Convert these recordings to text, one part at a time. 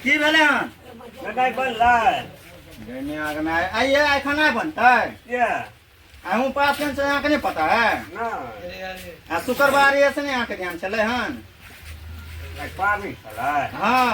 की भेलै हन बेटा बनलै गैनी आगना आइए आइ खाना बनतै किया अहूँ पास कन छै अहाँके नहि पता है आ शुक्रवार ये से नहि अहाँके ध्यान छलै हन पाबनि छलै हँ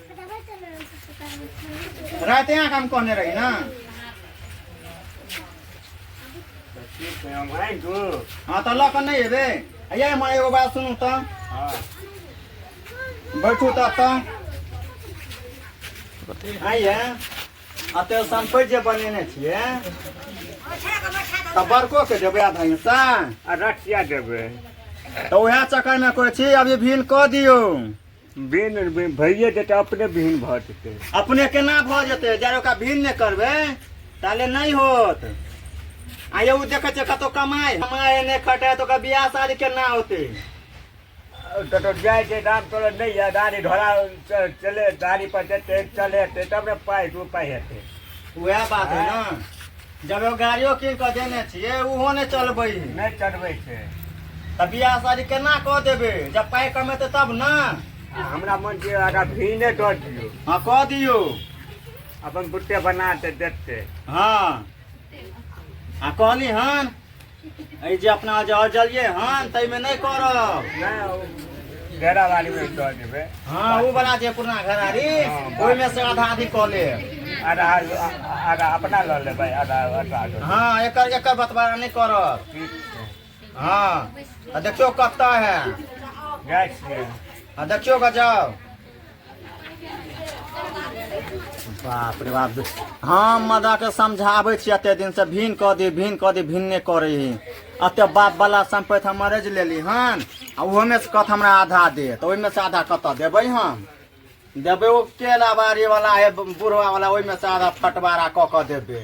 राति अहाँके हम कहने रही ने हँ तऽ लऽ कऽ नहि एबै अइए हमर एगो बात सुनू तऽ बैठू तऽ तऽ आइए अते सम्पति जे बनेने छियै तऽ बड़कोके देबै आधा हिस्सा आ रखिया देबै तऽ उएह चक्करमे कहै छी अभी भिन कऽ दियौ बिन बिन भइए जेतै अपने बिहीन भऽ जेतै अपने केना भऽ जेतै जब ओकरा भिन्न नहि करबै ताले नहि होत आ यौ ओ देखै छै कतौ कमाइ कमाइ नहि खटाइ तऽ ओकर बियाह शादी केना होतै कतौ जाइ छै दाम तोड़ नहि यऽ गाड़ी घोड़ा च- चले गाड़ी पर जेतै चलेतै तब ने पाइ दू पाइ हेतै उएह बात है ने जब एगो गाड़ियो कीन कऽ देने छियै ओहो नहि चलबै नहि चढ़बै छै तऽ बियाह शादी केना कऽ देबै जब पाइ कमेतै तब ने आ हमरा मन छै आगा भी नहि दऽ दियौ हँ कऽ दियौ अपन बुट्टे बना के देखते हँ आ कहली हन एहि जे अपना जे अजलियै हन ताहिमे नहि करब नहि घेरा बाड़ीमे दऽ देबै हँ ओ बला जे पुरना घरारी ओहिमे से आधा आधी कऽ लेब आधा आधा अपना लऽ लेबै आधा आधा हँ एकर एकर बतबारा नहि करब ठीक छै हँ आ देखियौ कतऽ है जाइ छियै आ देखियौ गऽ जाउ बाप रे बाप हम मदा के समझाबै छी एते दिन से भिन कऽ दी भिन कऽ दी भिन नहि करै ही एते बाप वाला सम्पत्ति हम मरेज लेली हन आ ओहोमे से कत हमरा आधा दे तऽ ओहिमे से आधा कतऽ देबै हम देबै ओ केला बाड़ी वाला हे बुढ़वा वाला ओहिमे से आधा फटवारा कऽ कऽ देबै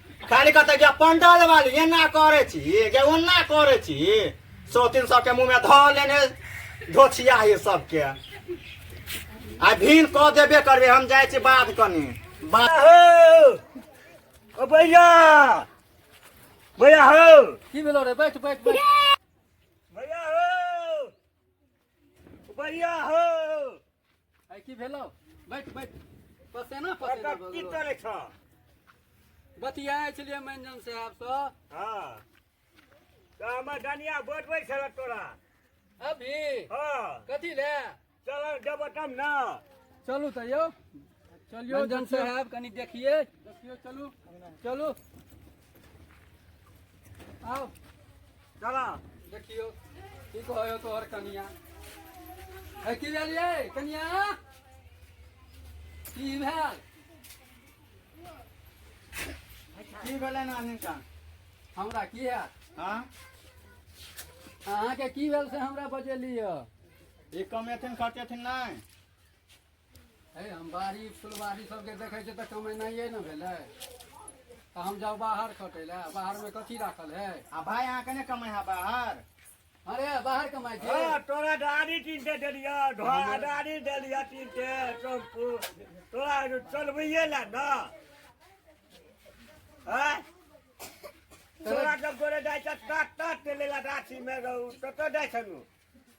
खाली कहते जे पंडल वाली एना करे छी जे ओना करे छी सौ तीन सौ के मुंह में धऽ लेने धोछिया ये सबके आ भीन कऽ देबे करबे हम जाइ छी बात कनी बात हो ओ भैया भैया हो की भेलो रे बैठ बैठ बैठ भैया हो भैया हो आइ की भेलौ बैठ बैठ पसेना पसेना भऽ की गेलौ। करै छ बतियाइ छलियै मंजन साहब सँ हँ तऽ हमर डनिया बोलबै छल तोरा अभी हँ कथी ले चल जब तब ने चलू तऽ यौ चलियो रंजन साहब कनी देखिए देखियो चलू चलू आओ चला देखियो की कहो तोहर कनिया है की भेल ये कनिया की भेल की भेलै नानी का हमरा की है हाँ अहाँके की भेल से हमरा बजेली यऽ ई कमेथिन खटेथिन नहि हे हम बाड़ी फुलबाड़ी सबके देखै छियै तऽ कमेनाइए ने भेलै तऽ हम जाउ बाहर खटै लए बाहरमे कथी राखल है आ भाय अहाँ कने कमाइ है बाहर अरे बाहर कमाइ छै हाँ, तोरा गाड़ी कीन के देलिया ढोला गाड़ी देलिया कीन के टेम्पू तोरा चलबैये ला ना हाँ? तोरा जब तोरे जाइ छ काट काट के लेला गाछी में रहू तो तो जाइ छनु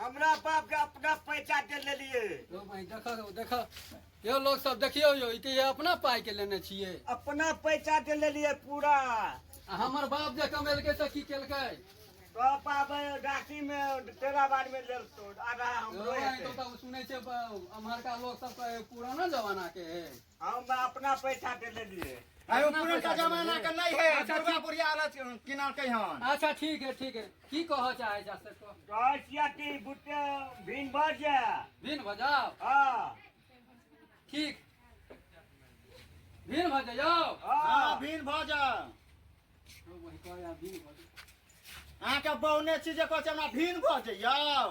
हमरा बाप के अपना पैसा दे लेलिए यौ भाई देखऽ यौ देखऽ यौ लोग सब देखियौ यौ ई तऽ ये अपना पाइ के लेने छियै अपना पैसा दे लेलिए पूरा आ हमर बाप जे कमेलकै तऽ की केलकै तो पाबे राखी में तेरा बार में ले तो आधा यौ हमरो भाई, हेतै। तो तऽ सुनै छै ब- अम्हरका लोग सब कहै पुराना जमाना के है हम अपना पैसा दे देलियै अरे पुरनका जमाना के नहीं है अच्छा, दुर्गा ठीक। पुरिया वाला किनारकै हन अच्छा ठीक है ठीक है की कहऽ चाहै जा से कह कहै छियै कि बुट्टे भिन भर जे भिन भऽ जाओ हँ ठीक भिन भऽ जाओ हँ हँ भीन भऽ जा वही कहै आ भिन भऽ जाओ अहाँके बौने छी जे कहै छै हमरा भीन भऽ जइयौ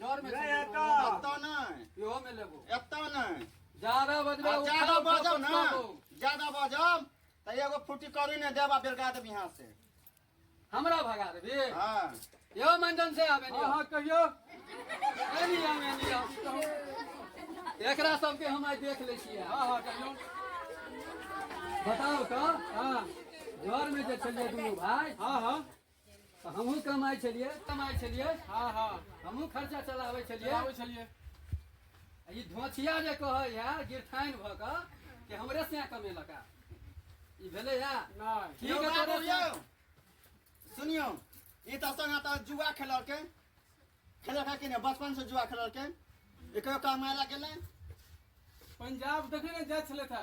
जर में नहीं, एतऽ। एतऽ नहि इहो में लेबो एतऽ नहि ज्यादा बजबे आ ज्यादा बाजब ना ज्यादा बाजब तऽ एगो फुटी करी ने देब आ बेलगा देब यहाँ से हमरा भगा देबे हाँ यो मंजन से आबे हाँ हाँ कहियो एनी आम एनी आम कहू। एकरा सबके हम आइ देख लै छियै हाँ हाँ कहियो बताउ तऽ हाँ जर में जे छलियै दुनू भाय हाँ हाँ तऽ हमहूँ कमाइ छलियै कमाइ छलियै हाँ हाँ हमहूँ खर्चा चलाबै छलियै चलाबै छलियै आ ई धोछिया जे कहै है गिरथाइन भऽ कऽ कि हमरे से कमेलक है ई भेलै है नहि ठीक यौ है बाबू तोरे यौ से- सुनियौ ई तऽ संग तऽ जुआ खेललकै खेललकै कि नहि बचपन से जुआ खेललकै एकरो कमाय लए गेलै पंजाब देखने ने जाइ छलै था